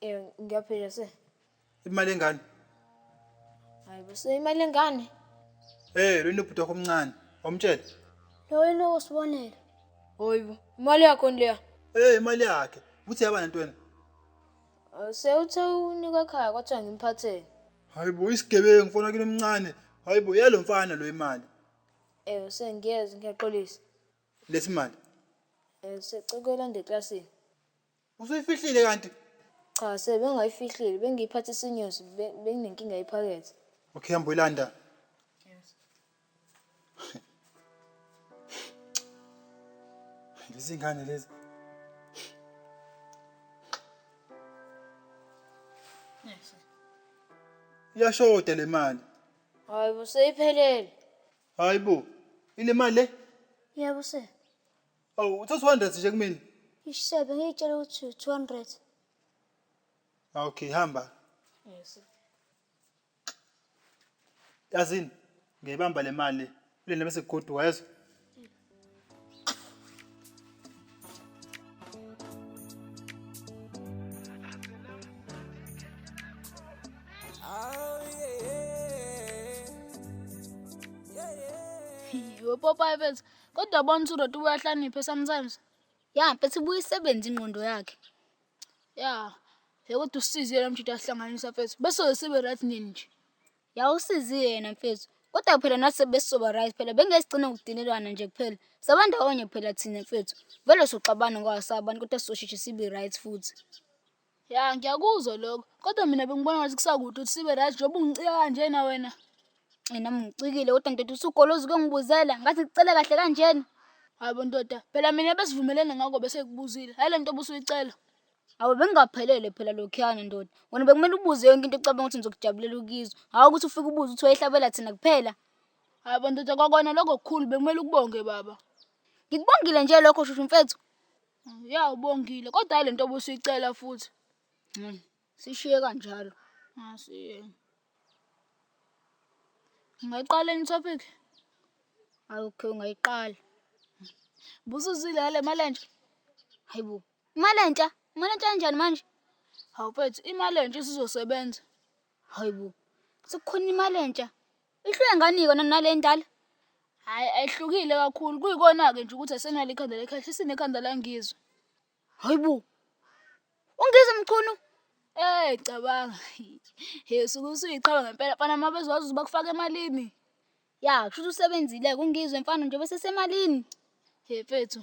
Eh ngiyaphila se. Imali engane. Hayi bese imali engane. Eh lweni ubhuti wakho omncane. Wamtshela. Lo yena osibonela. Hoyibo imali yakho leya. Eh imali yakhe. Uthi yaba nantweni? Eh, Sewuthe unika ekhaya kwathiwa ngimphathele. Hayibo isigebengu mfana kini omncane. Hayibo yalo mfana lo imali. Eh sengiyeza ngiyaxolisa. Lethi imali. Eh secekela nde classini. Usuyifihlile kanti? Cha sir bengayifihlile bengiyiphathe isinyosi be- benginenkinga yephakethe. Okay hamba uyilanda. Lezi ngane lezi. Iyashoda le mali. Hayi bo seyiphelele. Hayibo. Ile mali le? Yebo sir. Awu uthe 200 nje kumina. Ishe bengiyitshela ukuthi 200. Ah, Okay, hamba. Yes. Yazini, ngiyibamba le mali. Ulinde bese kugoduka yezwa. Yiwe popa ebeza. Kodwa bona ukuthi uDoti uyahlakaniphe sometimes. Ya mfethu ibuye isebenze ingqondo yakhe. Ya. Yebo kodwa usizile lo mjita wahlanganisa mfethu. Bese sibe right nini nje? Ya usizi yena mfethu. Kodwa phela nathi besizoba right phela bengeke sigcine ngokudinelana nje kuphela. Saba ndawonye phela thina mfethu. Vele soxabana ngoba sabantu kodwa sizosheshe sibe right futhi. Ya ngiyakuzwa lokho kodwa mina bengibona ngathi kusakude ukuthi sibe right njengoba ungicika kanjena wena. Eyi nami ngicikile kodwa ndoda usugoloza ukuyongibuzela ngathi ngikucela kahle kanjena. Hhayi bo ndoda phela mina besivumelene ngako bese ngikubuzile, hhayi le nto obusuyicela. Awu bekungaphelele phela lokhuyana ndoda. Wena bekumele ubuze yonke into ocabanga ukuthi ngizokujabulela ukuyizwa, hhawu ukuthi ufike ubuze ukuthi wayehlabela thina kuphela. Hhayi bo ndoda kwakona lokho kukhulu bekumele ukubonge baba. Ngikubongile nje lokho shushu mfethu. Yawu Bongile kodwa hhayi le nto obusuyicela futhi. Sishiye kanjalo. Asiyeke. Ungayiqala enye i-topic? Okay, ungayiqala. Busuzile ngale mali entsha? Hayi bo. Imali entsha? Imali entsha kanjani manje? Hawu mfethu imali entsha isizosebenza. Hayi bo, sekukhona imali entsha? Ihluke ngani kona nale endala? Hhayi ayihlukile kakhulu kuyikona-ke nje ukuthi asenalo ikhanda lekhehla isinekhanda langizwa. Hhayi bo! UNgizwe Mchunu? Eyi cabanga he usuke usuyiqhawe ngempela mfana uma bezowazi ukuthi bakufaka emalini. Ya kushuthi usebenzile-ke uNgizwe mfana njengoba esesemalini he mfethu.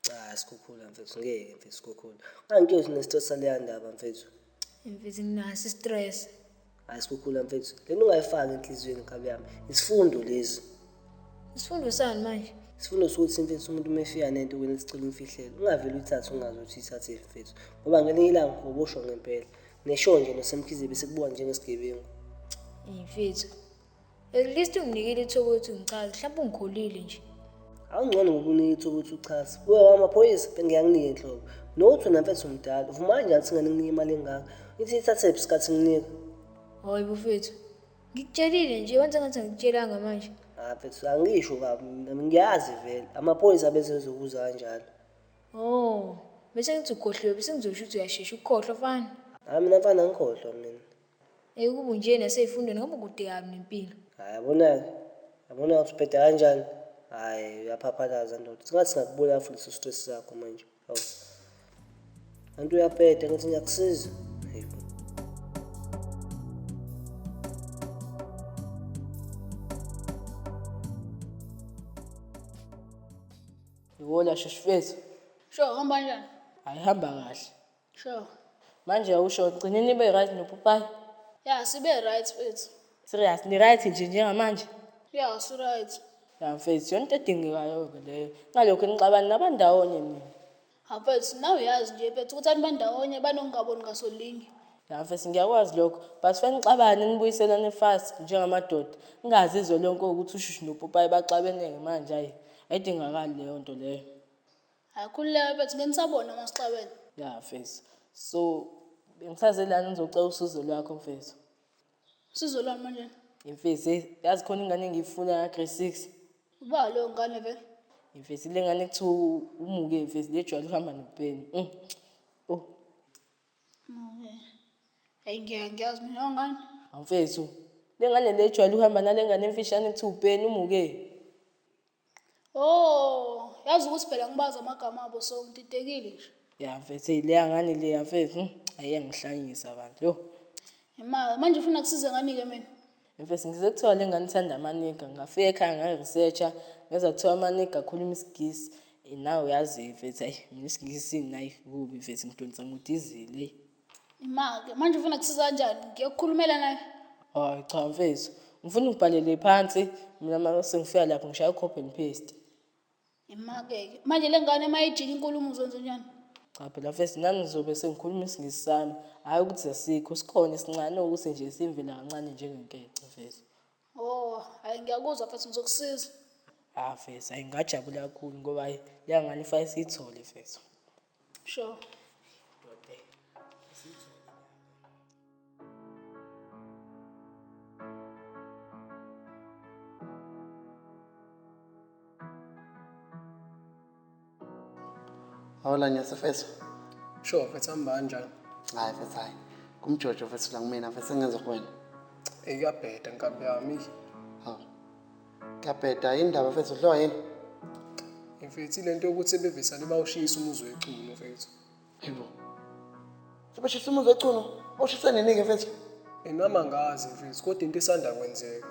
Cha sikhukhula mfethu ngeke mfethu sikhukhula. Kanti uyothi nestress saleya ndaba mfethu. Mfethu nginaso istress. Hayi sikhukhula mfethu. Lento ungayifaki enhliziyweni nkabi yami. Isifundo lezi. Isifundo sani manje? Isifundo sokuthi mfethu umuntu uma efika nento wena sicela umfihlele. Ungavele uyithathe ungazi ukuthi ithathe mfethu. Ngoba ngelinye ilanga ubosho ngempela. Nesho nje nosemkhize bese kubuka njengesigebengu. Mfethu. At least unginikile ithuba ukuthi ungichaze, mhlawumbe ungikholile nje. Awungcono ngokunika ithuba ukuthi uchaze. Kuwe wamaphoyisa bengiyanginika inhlobo. Nothi wena mfethu mdala, uvuma kanjani singane nginika imali engaka? Ithi ithathe phi sikhathi nginika? Hayi bufethu. Ngikutshelile nje, wenze ngathi angikutshelanga manje. Ah mfethu angisho kabi mina, ngiyazi vele. Amaphoyisa bese ezokuza kanjalo. Oh, bese ngithi ukhohliwe, bese ngizosho ukuthi uyashesha ukukhohlwa fana. Hayi mina mfana angikhohlwa mina. Ey ukube unje naseyifundweni ngabe ubudikaphi nempilo. Hhayi yabonake yabona ukuthi ubheda kanjani hhayi uyaphaphalaza ndoda singathi singakubulala futhi leso stress sakho manje awu kanti uyabheda ngithi ngiyakusiza Yona sheshifethu. Sho hamba kanjani? Ayihamba kahle. Sure. Manje awusho gcine nibe right nopopayi. Ya sibe right mfethu. Serious ni right nje njengamanje? Ya si right. Ya mfethu yonke edingekayo ke leyo. Ngalokho nixabana nabandawonye nina. Ha mfethu nawe uyazi nje mfethu ukuthi anibandawonye banokungaboni ngasolinye. Ya mfethu ngiyakwazi lokho but fanele nixabane nibuyiselane fast njengamadoda. Ingaze izwe lonke ukuthi ushushu nopopayi baxabeneke manje ayi ayidingakali leyo nto leyo. Hayi khululeka bethu benisabona umasixaweni. Ya mfethu. So bengisaze lana ngizocela usizo lwakho mfethu. Usizo lwami manje. Mfethu hey yazi khona ingane engiyifuna ya grade 6. Uba leyo ngane vele. Mfethu le ngane kuthiwa umuke mfethu lejwayele uhamba nopeni. Mm. Oh. Okay. Hey ngiyazi mina ngane. Mfethu lengane lejwayele uhamba nalengane emfishane kuthiwa upeni umuke. Oh, yazi ukuthi phela ngibazi amagama abo so ngididekile nje. Ya mfethu leya ngane leya mfethu hmm, ayengihlanyisa kanti yo. Ema manje ufuna kusize ngani ke mina? Mfethu ngize kuthiwa le ngane ithanda amaniga ngafika ekhaya ngayi-researcha ngeza kuthiwa amaniga akhuluma isigisi eh, nawe uyazi mfethu ayi mina isigisi nayi kubi mfethu ngidonsa ngudizile eyi. Imake manje ufuna kusiza kanjani? Ngiyokukhulumela naye. Hayi cha mfethu. Ngifuna ungibhalele phansi mina mama sengifika lapho ngishaya copy and paste. Imake-ke manje le ngane uma ijika inkulumo uzonzenjani? Cha phela mfethu nami ngizobe sengikhuluma isingisi sami. Hhayi ukuthi asikho sikhona esincane ukuthi nje simvela kancane njengenkece mfethu. Oh, hhayi ngiyakuzwa mfethu ngizokusiza. Ah mfethu, hhayi ngingajabula kakhulu ngoba hhayi le ngane ifanele siyithole mfethu. Sure. Dote. Sizwe. Hola nyase feso. Sure, mfethu hamba kanjani? Hayi mfethu hayi. Kumjojo mfethu la kumina mfethu sengenza kuwena. Eyabheda nkabi yami. Ngiyabheda yini ndaba mfethu udliwa yini? Mfethu ilento yokuthi ebevesane bawushiyisa umuzi weculo mfethu. Yebo. Sebeshisa umuzi weculo, bawushisa nini-ke mfethu? Enami angazi mfethu kodwa into esanda kwenzeka.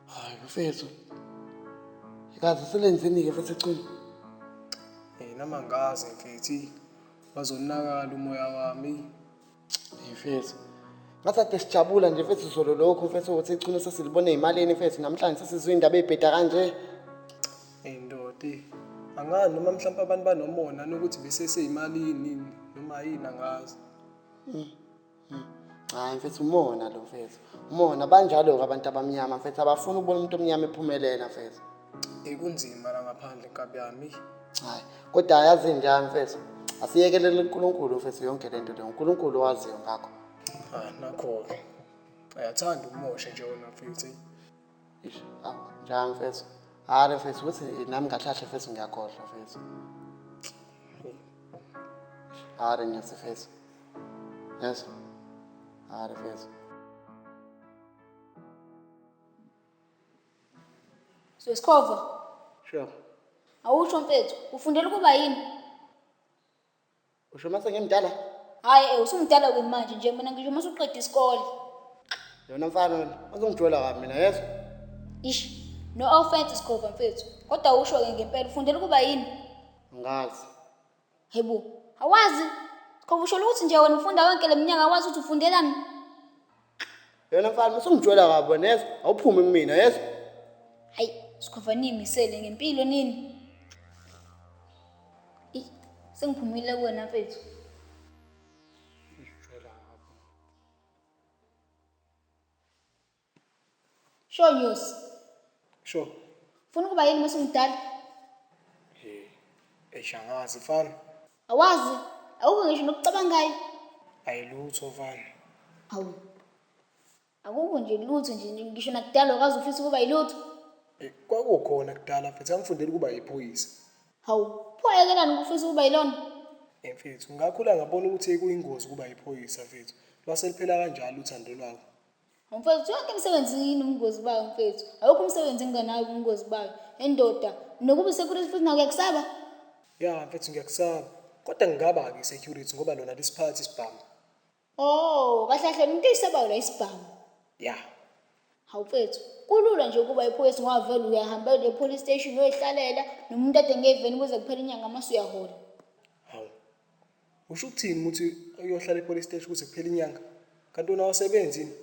Hayi mfethu. Kaze selenzeni-ke mfethu iculo? Enami angazi mfethu. Bazonakala umoya wami. mfethu ngathi ade sijabula nje mfethu zolo lokhu mfethu ukuthi ichunu sesilibone eyimalini mfethu namhlanje sesizwe indaba eyibheda kanje Hey ndodi, angani noma mhlawumbe abantu banomona nokuthi beseseyimalini noma yini angazi. hayi mfethu umona lo mfethu umona banjalo-ke abantu abamnyama mfethu abafuni ukubona umuntu omnyama ephumelela mfethu Ey kunzima la ngaphandle nkabi yami. Hayi, kodwa ayazi inja mfethu. Asiyekelele uNkulunkulu mfethu yonke lento le. UNkulunkulu owaziyo ngakho. Ah nakho-ke. Ayathanda ukumosha nje wena mfethu. eyi. Ish, awu, njani mfethu? Hhayi mfethu, ukuthi nami ngahlahle mfethu ngiyakhohlwa mfethu. Hhayi ngiyathi mfethu. Yezwa? Hhayi mfethu. Sesikhova. Sure. Awusho mfethu, ufundela ukuba yini? Usho mase ngimdala? Hayi, eh usumdala wini manje nje mina ngisho mase uqeda isikole. Yona mfana wena, uzongijola kabi mina yezwa. Ish, no offense Sikhova mfethu. Kodwa usho ke ngempela ufundela ukuba yini? Ngazi. Hebo, awazi? Cha usho ukuthi nje wena ufunda yonke leminyaka awazi ukuthi ufundelani? Yona mfana usungitshwela kabi wena yezwa awuphume kumina yezwa. Hayi, sikhova niyimisele ngempilo nini? Ey, sengiphumile kuwena mfethu. Sho Nyosi, Sho. funa ukuba yini mase umdala? Hey. Eish angazi mfana. Awazi, awukho ngisho nokucabangayo. Ayilutho mfana. Awu. Akukho nje lutho nje nje, ngisho nakudala awukaze ufise ukuba yilutho. Eh, Kwakukhona kudala mfethu angifundela ukuba yiphoyisa. Hawu, pho ayekelani ukufisa ukuba yilona? Eh, Mfethu ngakhula ngabona ukuthi kuyingozi ukuba yiphoyisa mfethu. Lwase liphela kanjalo uthando lwabo. Mfethu yonke imisebenzi inobungozi bayo mfethu. Awukho umsebenzi enginganayo ubungozi bayo. Endoda nokuba security futhi nawe uyakusaba? Ya mfethu ngiyakusaba. Kodwa ngingaba ke security ngoba lona lisiphatha isibhamu. Oh, kahle kahle umuntu eyisabayo la isibhamu. Ya. Hawu mfethu, kulula nje ukuba iphoyisa ngoba vele uyahambela e-police station uyoyihlalela nomuntu ade ngeveni kuze kuphele inyanga mase uyahola. Usho ukuthini uma uthi uyohlala epolice station kuze kuphele inyanga? Kanti wena awusebenzi yini?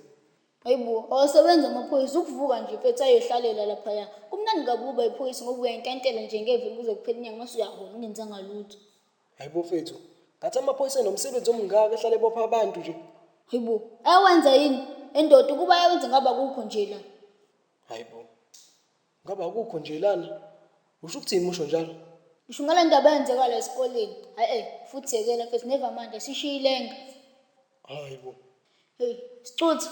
Hayi bo, awasebenzi amaphoyisa, ukuvuka nje mfethu ayohlalela laphaya. Kumnandi kabi ukuba iphoyisa ngoba uyayintantela nje ngevini kuze kuphele inyanga mase uyahola ungenzanga lutho. Hayi bo mfethu, ngathi amaphoyisa enomsebenzi omngaka ehlale ebopha abantu nje. Hayi bo, ayawenza yini? Endoda ukuba ayawenza ngabe akukho nje la. Hayi bo. Ngabe akukho nje lana? Usho ukuthini musho njalo? Ngisho ngale ndaba eyenzeka la esikoleni. Hayi eh futhi yekela mfethu neva manje sishiye ilenga. Hayi bo. Hey, Sicuthu,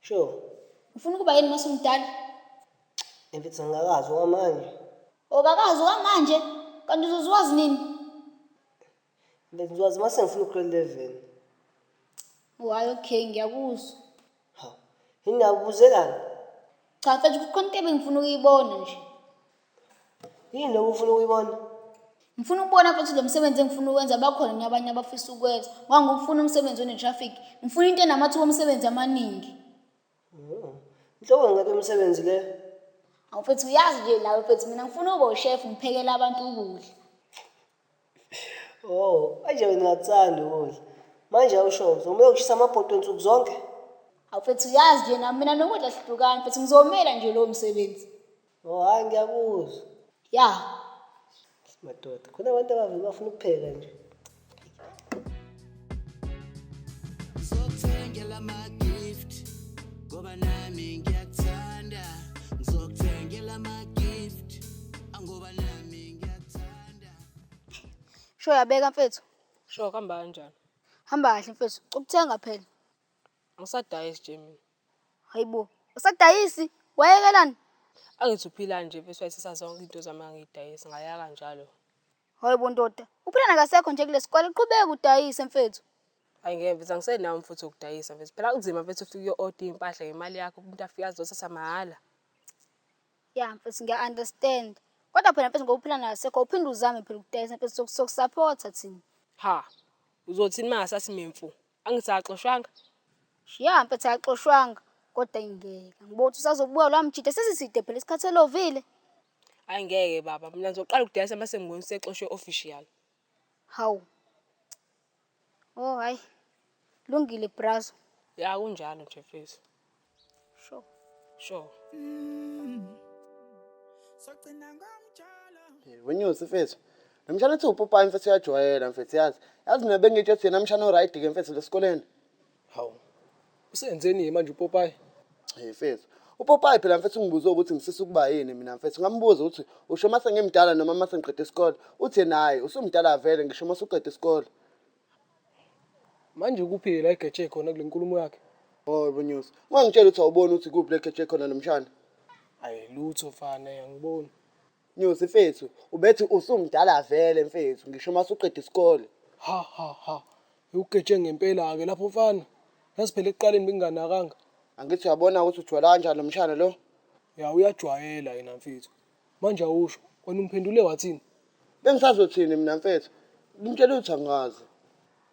Sure. ufuna ukuba yini mase umdala? Mfethu angikazi okwamanje. Okakazi okwamanje kanti uzozwazi nini? Bengiwazi uma sengifuna ugrade eleven. Wayo okay ngiyakuzwa. Hawu, yini nakubuzelani? Cha mfethu kukhona into ebengifuna ukuyibona nje. Yini lokho ufuna ukuyibona? Ngifuna ukubona futhi lo msebenzi engifuna ukwenza bakhona yini abanye abafisa ukwenza. Ngoba ngifuna umsebenzi one-traffic. Ngifuna into enamathuba omsebenzi amaningi. Oh, Inhlobo ngabe umsebenzi le. Awu mfethu uyazi nje nawe mfethu mina ngifuna ube ushefu ngiphekele abantu ukudla. Oh, manje wena ungakuthandi ukudla. Manje awusho uzomele ushisa amabhodwe nsuku zonke? Awufethu uyazi nje nami mina nokudla sihlukani mfethu ngizomela nje lowo msebenzi. Oh, hayi ngiyakuzwa. Ya. Madoda, khona abantu abavele bafuna ukupheka nje. Zokuthengela ama gift ngoba nami ngiyakuthanda ngizokuthengela ama gift angoba nami ngiyakuthanda Sho yabeka mfethu. Sho kuhamba kanjani? Hamba kahle mfethu. Ukuthenga phela. Angisadayisi nje mina. Hayibo. Usadayisi? Wayekelani? Angithi uphila nje mfethu wayisisa zonke into zami angidayisi ngayaka njalo. Hayi bo ndoda, uphilana kasekho nje kulesikole qhubeka udayise mfethu. Hayi ngeke mfethu angisenawo mfuthu wokudayisa mfethu. Phela kunzima mfethu ufike uyo-order iy'mpahla ngemali yakho umuntu afike azothatha mahhala. Ya mfethu ngiya understand. Kodwa phela mfethu ngoba uphilana kasekho uphinde uzame phela ukudayisa mfethu sok- sokusaphotha thina. Ha, uzothini uma ngasathi mimfu? Angithi akaxoshwanga? Ya mfethu akaxoshwanga kodwa ingeke. Ngibona ukuthi usazobuya lwamjita sesiside phela isikhathi elovile. Ayi ngeke baba, mina ngizoqala ukudayisa mase ngibona usexoshwe official. Hawu. Oh hayi. Lungile brazo. Ya kunjalo nje mfethu. Sure. Sure. Sogcina ngomjolo. Wenyusi mfethu. Nomshana ethi upopayi mfethu uyajwayela mfethu yazi. Yazi mina bengitshe ukuthi yena mshana oryt ke mfethu lesikoleni. Hawu. Usenzeni ke manje uPopayi? Hey mfethu. UPopayi phela mfethu ungibuze ukuthi ngifisa ukuba yini mina mfethu. Ngambuza ukuthi usho uma sengimdala noma uma sengiqede isikole. Uthi yena hhayi usumdala vele ngisho uma usuqede isikole. Manje kuphi ke la egeje khona kule nkulumo yakhe? Hhoyi boNyosi. Ungangitshela ukuthi awuboni ukuthi kuphi la egeje khona nomshana? Ayi lutho mfana, angiboni. Nyosi mfethu ubethi usumdala vele mfethu ngisho uma suqeda isikole. Ha ha ha. Iwugeje ngempela ke lapho mfana. Yazi phela ekuqaleni benginganakanga. Angithi uyabona ukuthi ujwayela kanjani lo mshana lo? Ya uyajwayela yena mfethu. Manje awusho, wena umphendule wathini? Bengisazothini mina mfethu? Ngimtshele ukuthi angazi.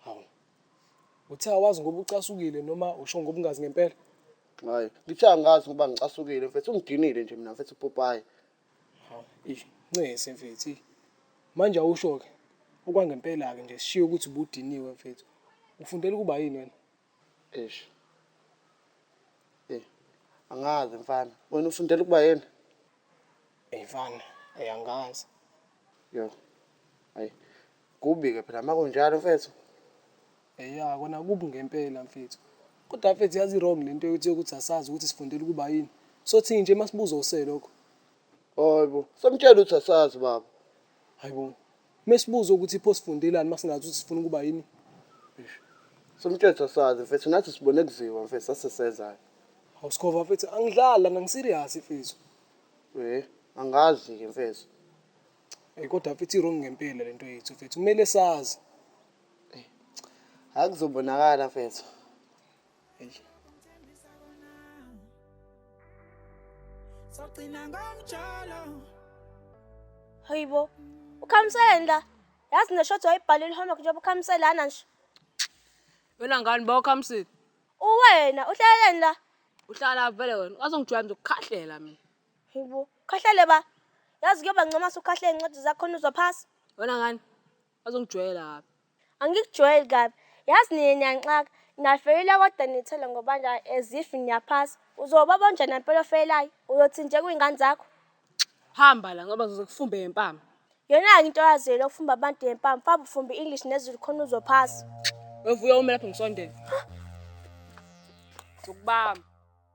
Hawu. Uthe awazi ngoba ucasukile noma usho ngoba ungazi ngempela? Hhayi, ngithe angazi ngoba ngicasukile mfethu. Ungidinile nje mina mfethu upopayi. Hawu eish ncese mfethu eish. Manje awusho-ke okwangempela-ke nje sishiye ukuthi ubudiniwe mfethu. Ufundela ukuba yini wena? Eish. Eyi angazi mfana. Wena ufundela ukuba yini? Eyi mfana, eyi angazi. Yoh. Ayi. Kubi-ke phela uma kunjalo mfethu. Eya kona kubi ngempela mfethu. Kodwa mfethu yazi wrong lento yokuthi yokuthi asazi ukuthi sifundela ukuba yini. Sothini nje masibuza use lokho. Hayibo, somtshela ukuthi asazi baba. Hayibo. Mesibuza ukuthi pho sifundelani masingazi ukuthi sifuna ukuba yini. Somtshela ukuthi asazi mfethu nathi sibone kuziwa mfethu sasesezani. Hawu Skhova mfethu angidlali lana ngiserious mfethu. Eh, angazi-ke mfethu. Hey kodwa mfethu irong ngempela lento yethu mfethu kumele sazi. Hayi kuzobonakala mfethu. Sogcina ngomjolo. Hayibo. Ukhamseleni la? Yazi neshothi wayibhalile homework njengoba ukhamselana nje. Wena ngani ba ukhamsile? Uwena uhleleni la? Uhlala vele wena. Wazongijwayela nje ukukhahlela mina. Hayibo. Ukhahlele ba. Yazi kuyoba ngcono ukhahlele incwadi zakho uzwa phasi. Wena ngani? Bazongijwayela kabi. Angikujwayeli kabi. Yazi nina niyanxaka. Niyafeyila kodwa nithela ngobanda as if niyaphasa. Uzoba bonjani impela ofeyelayo? Uyothi nje kuyingane zakho. Hamba la ngoba ngizokufumbe ngempama. Yona-ke into yazi yena ukufumba abantu ngempama. Famba ufumbe English nezulu khona uzophasa. Wevuya ume lapho ngisondele. Zokubamba.